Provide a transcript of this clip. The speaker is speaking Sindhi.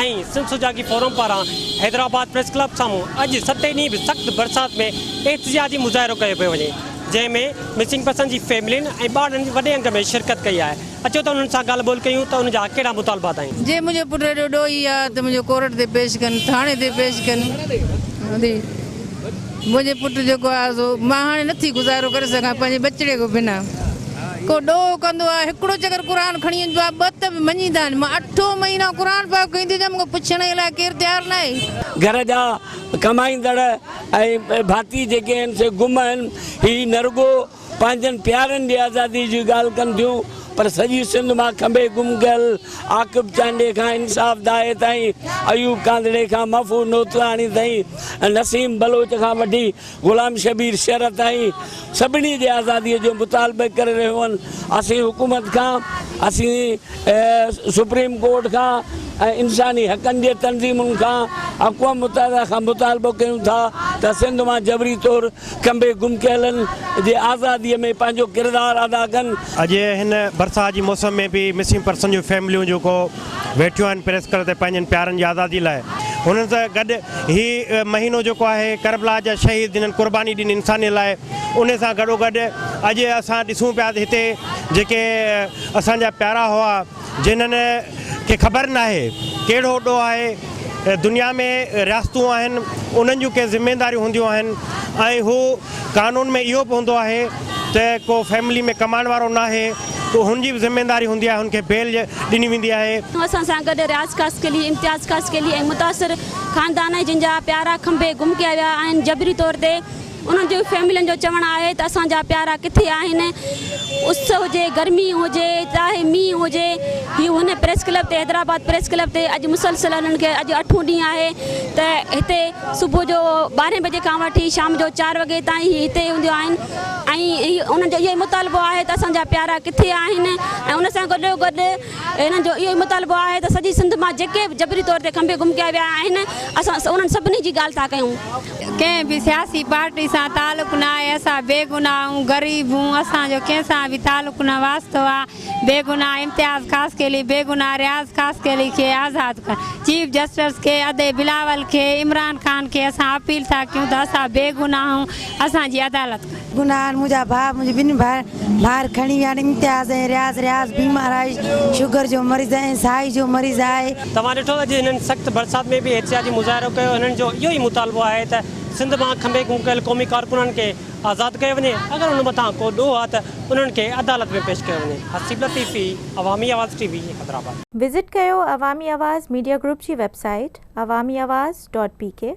۽ سنڌ سجاڳي فورم پاران حيدرآباد پريس ڪلب سامهون اڄ ستين ڏينهن به سخت برسات ۾ احتجاجي مظاهرو ڪيو پيو وڃي جنهن ۾ مسنگ پرسن جي فيملين ۽ ٻارڙن وڏي انگ ۾ شرڪت ڪئي آهي اچو ته انهن سان ڳالهه ٻولهه ڪيون ته انهن جا ڪهڙا مطالبا اٿائين. جي منهنجو پٽ ايڏو ڏوهي آ ته منهنجو ڪورٽ تي پيش ڪن ٿاڻي تي پيش ڪن. منهنجي پٽ جيڪو آهي سو مان هاڻي نٿي گذارو ڪري سگهان پنهنجي ٻچڙي کان بنا. ڪو ڏوهه ڪندو آهي، هڪڙو چڪر قرآن کڻي وڃبو آهي، ٻه ته به مڃيندا آهن. مان اٺون مهينو قرآن پاڪ کڻي ٿي اچان، مون کان پڇڻ جي لاء ڪير تيار ناهي. گهر جا ڪمائيندڙ ۽ ڀاتي جيڪي آهن سي گم آهن. هي نه رڳو پنهنجن پيارن جي آزادي جي ڳالهه ڪن ٿيون پر سڄي سنڌ مان کنڀي گم ڪيل عاقب چانڊيي کان انصاف دائي تائين، ايوب ڪانڌڙي کان محفوظ نوتراڻي تائين ۽ نسيم بلوچ کان وٺي غلام شبير شر تائين سڀني جي آزادي جو مطالبه ڪري رهيون اسين حڪومت کان اسين سپريم ڪورٽ کان ۽ انساني حقن جي تنظيمن کان اقوام متحده کان مطالبو ڪيون ٿا ته سنڌ مان جبري طور کنڀي گم ڪيلن جي آزادي ۾ پنهنجو ڪردار ادا ڪن. اڄ هن برسات جي موسم ۾ به مسنگ پرسن جون فيمليون جيڪو ويٺيون آهن پريس ڪلب تي پنهنجن پيارن جي آزادي لاء انهن سان گڏ هي مهينو جيڪو آهي ڪربلا جا شهيد جنن قرباني ڏني انسانيت لاء انهي سان گڏوگڏ اڄ اسان ڏسون پيا ته هتي جيڪي اسان جا پيارا هئا. جنھن کي خبر ناھي ڪھڙو اڏو آھي دنيا ۾ رياستون آھن انھن جون ڪي ذميداريون ھونديون آھن ۽ ھو قانون ۾ اھو به ھوندو آھي ته ڪو فيملي ۾ ڪمائڻ وارو ناھي تو ھن جي به ذميداري ھوندي آھي ھن کي بيل ڏني ويندي آھي. اسان سان گڏ رياض خاصخيلي، امتياز خاصخيلي ۽ متاثر خاندان جن جا پيارا کنڀي گم ڪيا ويا آھن جبري طور تي. انهن جي فيملين جو چوڻ آهي ته اسان جا پيارا ڪٿي آهن؟ اس هجي، گرمي هجي، چاهي مينهن هجي، هي هن پريس ڪلب تي حيدرآباد پريس ڪلب تي اڄ مسلسل انهن کي اڄ اٺون ڏينهن آهي ته هتي صبح جو ٻارهين بجي کان وٺي شام جو چار وڳي تائين هي هتي هونديون آهن ۽ انهن جو اهو ئي مطالبو آهي ته اسان جا پيارا ڪٿي آهن ۽ ان سان گڏو گڏ انهن جو اهو ئي مطالبو آهي ته سڄي سنڌ مان جيڪي به جبري طور تي کنڀي گم ڪيا ويا آهن اسان انهن سڀني جي ڳالهه ٿا ڪيون. ڪنهن به سياسي پارٽي سان تعلق نه آهي اسان بيگناهه آهون غريب هون اسان جو ڪنهن سان به تعلق نه واسطو آ بيگناهه امتياز خاصخيلي بيگناهه رياض خاصخيلي کي آزاد ڪر چيف جسٽس کي ادي بلاول کي عمران خان کي اسان اپيل ٿا ڪيون ته اسان بيگناهه آهون اسان جي عدالت ڪر. گناهن منهنجا ڀاء منهنجي ٻن ڀائر کڻي ويا آهن امتياز ۽ رياض رياض بيمار آهي شگر جو مريض ۽ سائي جو مريض آهي. توهان ڏٺو اڄ هنن سخت برسات ۾ به احتجاجي مظاهرو ڪيو هنن جو اهو ئي مطالبو آهي ته سنڌ مان کنڀي گم ڪيل قومي ڪارڪنن کي آزاد ڪيو وڃي اگر ان مٿان ڪو ڏوهه آ ته انهن کي عدالت ۾ پيش ڪيو وڃي Haseeb Latifi Awami Awaz T V Hyderabad. Visit ڪيو عوامي آواز ميڊيا گروپ جي website Awami Awaz dot P ڪي.